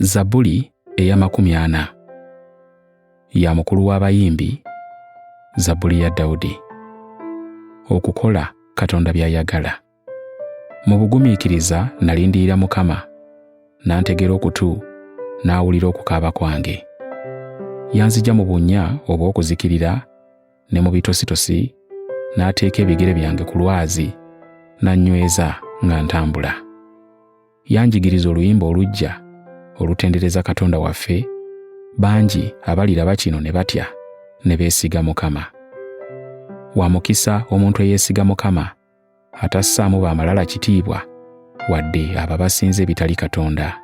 Zabuli ey'amakumi ana ya mukulu w'abayimbi Zabuli ya Dawudi. Okukola Katonda by'ayagala. Mu bugumiikiriza nalindirira Mukama, n'antegera okutu n'awulira okukaaba kwange. Yanzija mu bunnya obw'okuzikirira ne mu bitositosi n'ateeka ebigere byange ku lwazi n'annyweza nga ntambula yanjigiriza oluyimba oluggya olutendereza katonda waffe bangi abaliraba kino ne batya ne beesiga mukama wa mukisa omuntu eyeesiga mukama atassaamu ba malala kitiibwa wadde abo abasinza ebitali katonda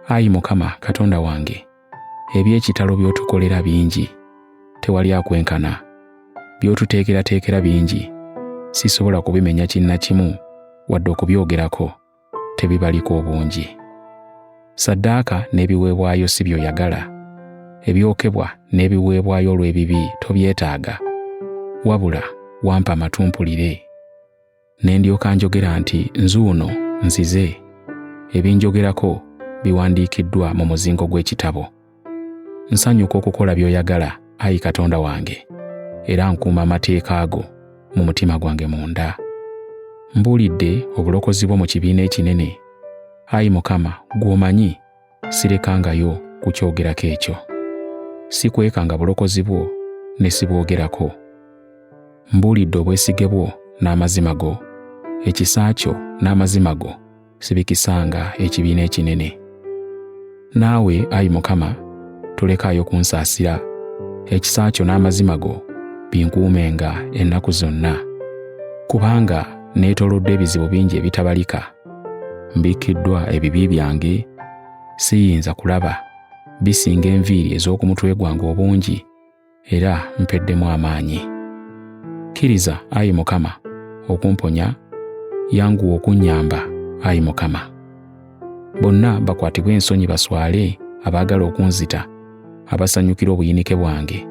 ayi mukama katonda wange eby'ekitalo by'otukolera bingi tewali akwenkana by'otuteekerateekera bingi sisobola kubimenya kinna kimu wadde okubyogerako tebibaliko obungi. Saddaaka n'ebiweebwayo si by'oyagala, ebyokebwa n'ebiweebwayo olw'ebibi tobyetaaga, wabula wampa amatu mpulire. Ne ndyoka njogera nti nzuuno nzize, ebinjogerako biwandiikiddwa mu muzingo gw'ekitabo. Nsanyuka okukola by'oyagala, ayi Katonda wange, era nkuuma amateeka go mu mutima gwange munda. Mbuulidde obulokozi bwo mu kibiina ekinene. Ayi Mukama, gw'omanyi, sirekangayo kukyogerako ekyo. Sikwekanga bulokozi bwo ne sibwogerako. Mbuulidde obwesige bwo n'amazima go, ekisa kyo n'amazima go, sibikisanga ekibiina ekinene. Naawe, ayi Mukama, tolekaayo kunsaasira, ekisa kyo n'amazima go binkuumenga ennaku zonna. Kubanga neetolodde ebizibu bingi ebitabalika, mbikkiddwa ebibi byange, siyinza kulaba, bisinga enviiri ez'oku mutwe gwange obungi. era mpeddemu amaanyi. Kkiriza, ayi Mukama, okumponya, yanguwa okunnyamba, ayi Mukama. Bonna bakwatibwe ensonyi baswale abaagala okunzita, abasanyukira obuyinike bwange,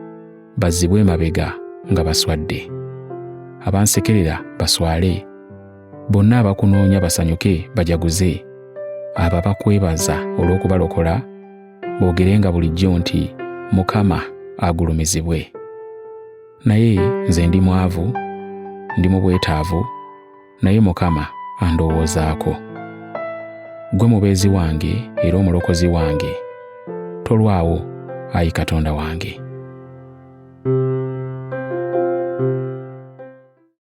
bazzibwe emabega nga baswadde. Abansekerera baswale, bonna abakunoonya basanyuke bajaguze, abo abakwebaza olw'okubalokola, boogerenga bulijjo nti mukama agulumizibwe naye nze ndi mwavu ndi mu bwetaavu naye mukama andowoozaako gwe mubeezi wange era omulokozi wange tolwawo ayi katonda wange